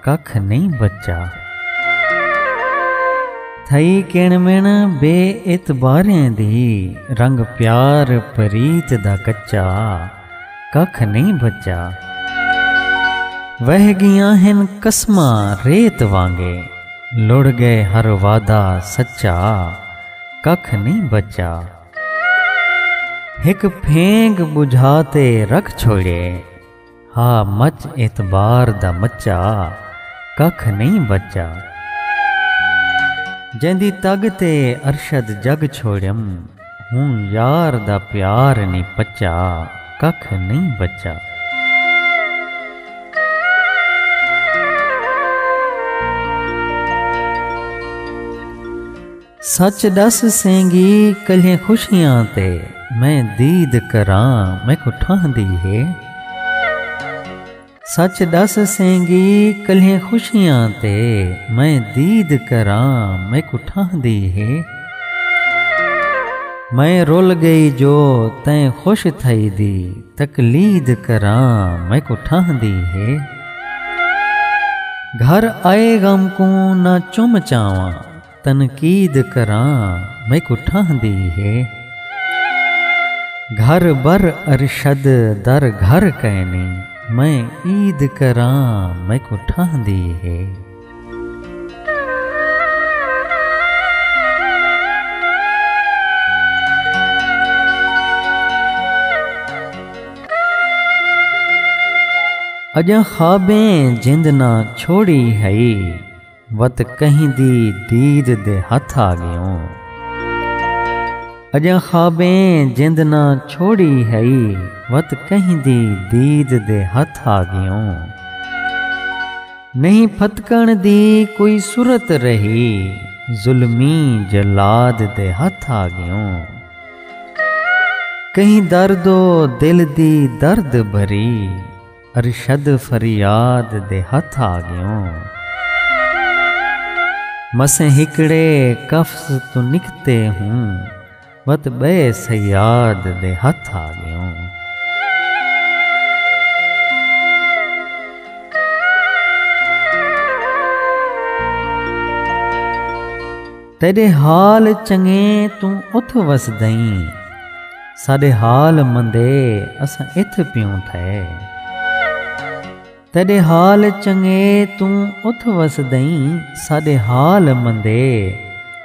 ککھ نئیں بچا۔ تھئی کݨ مݨ بے اعتباریں دی رنگ پیار پریت دا کچا ککھ نئیں بچا۔ وہہ ڳیاں ہن قسماں ریت وانگے لڑ ڳئے ہر وعدہ سچا ککھ نئیں بچا۔ ہک پھینگ ٻجھا تے رکھ چھوڑیے۔ ہا مچ اعتبار دا مچا ککھ نئیں بچا۔ جیندی تگ تے ارشد جگ چھوڑیم ہوں یار دا پیار نی پچا ککھ نئیں بچا۔ سچ ڈس سینگی کلھیں خوشیاں تے میں دید کراں میکوں ٹھاہندی ہے سچ ڈس سینگی کلھیں خوشیاں تے میں دید کراں میکوں ٹھاہندی ہے میں رول گئی جو تیں خوش تھئی دی تقلید کراں میکوں ٹھاہندی ہے گھر آئے غم کوں نہ چم چاواں تنقید کراں میکوں ٹھاہندی ہے۔ گھر بر ارشد در گھر کینی میں عید کراں میکوں ٹھاہندی ہے۔ اڄاں خوابیں جند نہ چھوڑی ہئی۔ وت کہیں دی دید دے ہتھ آ گیوں۔ اجاں خوابیں جند نہ چھوڑی ہئی وت کہیں دی دید دے ہتھ آ گیوں۔ نہیں پھتکݨ دی کوئی سرت رہی ظلمی جلاد دے ہتھ آ گیوں۔ کہیں درد و دل دی درد بھری۔ ارشد فریاد دے ہتھ آ گیوں۔ مسیں ہکڑے قفس توں نکتے ہوں وت بئے صیاد دے ہتھ آ گیوں۔ تیݙے حال چنڳے توں اتھ وسدئیں ساݙے حال مندے اساں اتھ پیوں تھئے تیݙے حال چنڳے توں اتھ وسدئیں ساݙے حال مندے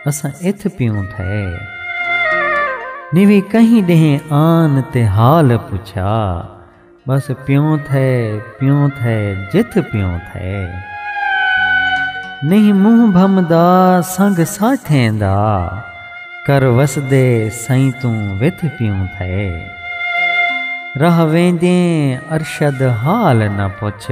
اساں اتھ پیوں تھئے نی وی کہیں ݙینہہ آن تے حال پچھا بس پیوں تھئے پیوں تھئے جتھ پیوں تھئے۔ نہیں منہ بھمدا سنگ ساٹھیں دا۔ کر وسدے سئیں توں وتھ پیوں تھئے۔ راہ ویندیں ارشد حال نہ پچھ۔